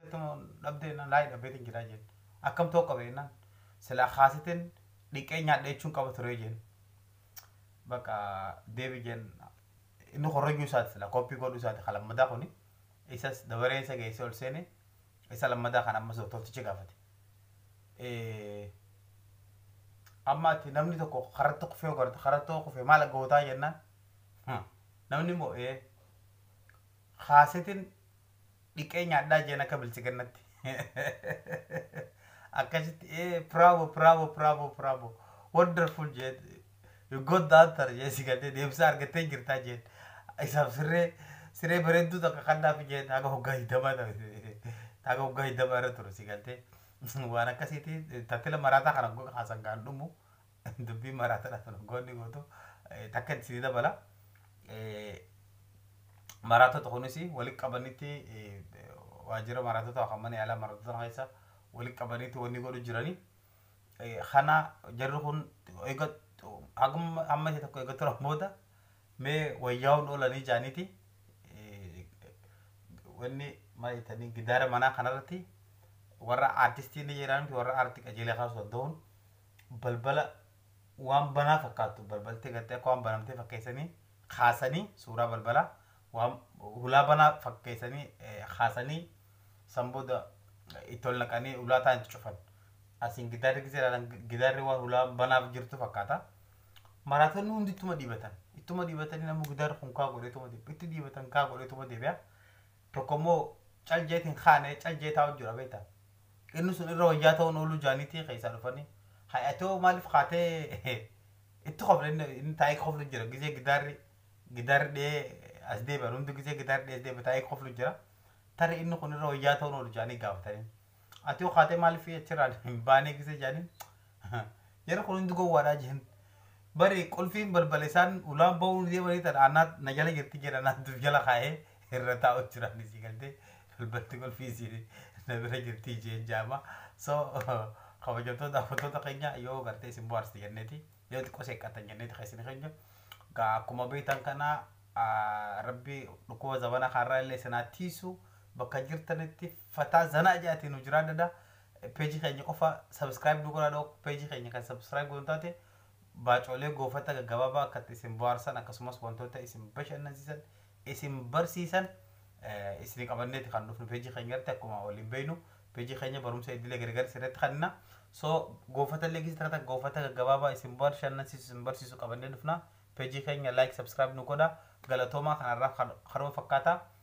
Akkam dhabdee jennaan laayii dhabbeetiin jira jeen. Akkam ta'uu qaba jennaan silaa kaasitiin dhiqee nyaadhe jechuun qaba ture jeen. Bakka deebi jeen inni korrojuu isaati silaa koppii godhuu isaati kan lammadaa kuni isas dabareen isa geessee ol seene isa lammadaa kan ammas doktortichi gaafate. Amma ati namni tokko karatti kufee ogarte karatti oo kufee maal gootaa jennaan namni immoo kaasitiin dhiqee nyaadhaa jeen akka bilchiginnatti akkasitti ee bravo bravo bravo bravo wonderful jeen you got the answer jeen si galtee deebisa argattee jirtaa jeen isaaf sirree siree bareedduu takka kannaaf jeen haga hoggaa hiddamaa haga hoggaa hiddamaa irra ture si galtee waan akkasiitii tattila maraataa kana haasan gaan dhumu Dubbiin maraatona tun hoggoonni gootu takka itti sii dabala. Maraatota kunis walitti qabanitti waajjira maraatota kan mana yaalaa maraatota keessa walitti qabanitti wanni godhu jirani. Kana jarri kun eega amma isa tokko eega turan booda mee wayyaa'uun oolanii jaaniiti wanni maal jettanii gidaara manaa kanarratti warra aartistii ni jedhaanti warra aartii qajeelee kaasuu danda'uun balbala waan banaa fakkaattu balbalti gartee akka waan banamtee fakkeessanii kaasanii suuraa balbalaa waan hulaa banaa fakkeessanii kaasanii san booda itti ol naqanii hulaa taan itti cufan. Asiin gidaarri gisee ilaalan gidaarri waan hulaa banaaf jirtu fakkaata. Maraatonni hundi ittuma dhiibatan. Ittuma dhiibatanii namni gidaarri kun kaa godheetuma deebi'a. Itti dhiibatan kaa godheetuma deebi'a. Tokko immoo cal jeetiin kaanee cal jeetaa hojjira beektaa. Inni sun irra wayyaa ta'uun ooluu jaaniitii keessaa dhufanii hay atoo maaliif kaatee itti kofle inni inni taa'ee koflu jira gizee gidaarri gidaarri dhee as deebi'an hundi gizee gidaarri dhee as deebi'an taa'ee koflu jira tarii inni kun irra wayyaa ta'uun oolu jaanii gaafatanii atoo kaatee maaliif achirraan hin baanee gizee jaaniin Jarri kun hundi gowwaadhaa jeen. Bari qulfiin balbala isaan ulaan ba'uun deemanii tan anaa na jala jirti jedha naantuuf jala kaa'ee irra taa'u jira ni sii galtee balbalti qulfii isiin na bira jirti jeen jaama. So kabajamtoota daawwattoota keenya yoo gartee isin bohaarste jenneeti yoo xiqqoo seeqqattan jenneeti keessan keenya. Gaa akkuma beektan kana rabbi dhukkuba zabana kaarraa illee isin haa tiisu bakka jirtanitti fataa zanaa jaatiin nu jiraadhadha. Page keenya qofa subscribe nu godhaa dhook page keenya kan subscribe goon taate baacoolee goofata gaggabaabaa akka itti isin bohaarsan akkasumas wantoota isin bashannansiisan isin barsiisan isin qabanneeti kan dhufnu page keenya irratti akkuma waliin beeynu page keenya barumsa idilee gargaarsa irratti kanna so goofata illee keessa tiratan goofata gaggabaabaa isin bashannansiisu isin barsiisu qabannee dhufna page keenya like subscribe nu godhaa galatoomaa kanarraa karoo fakkaataa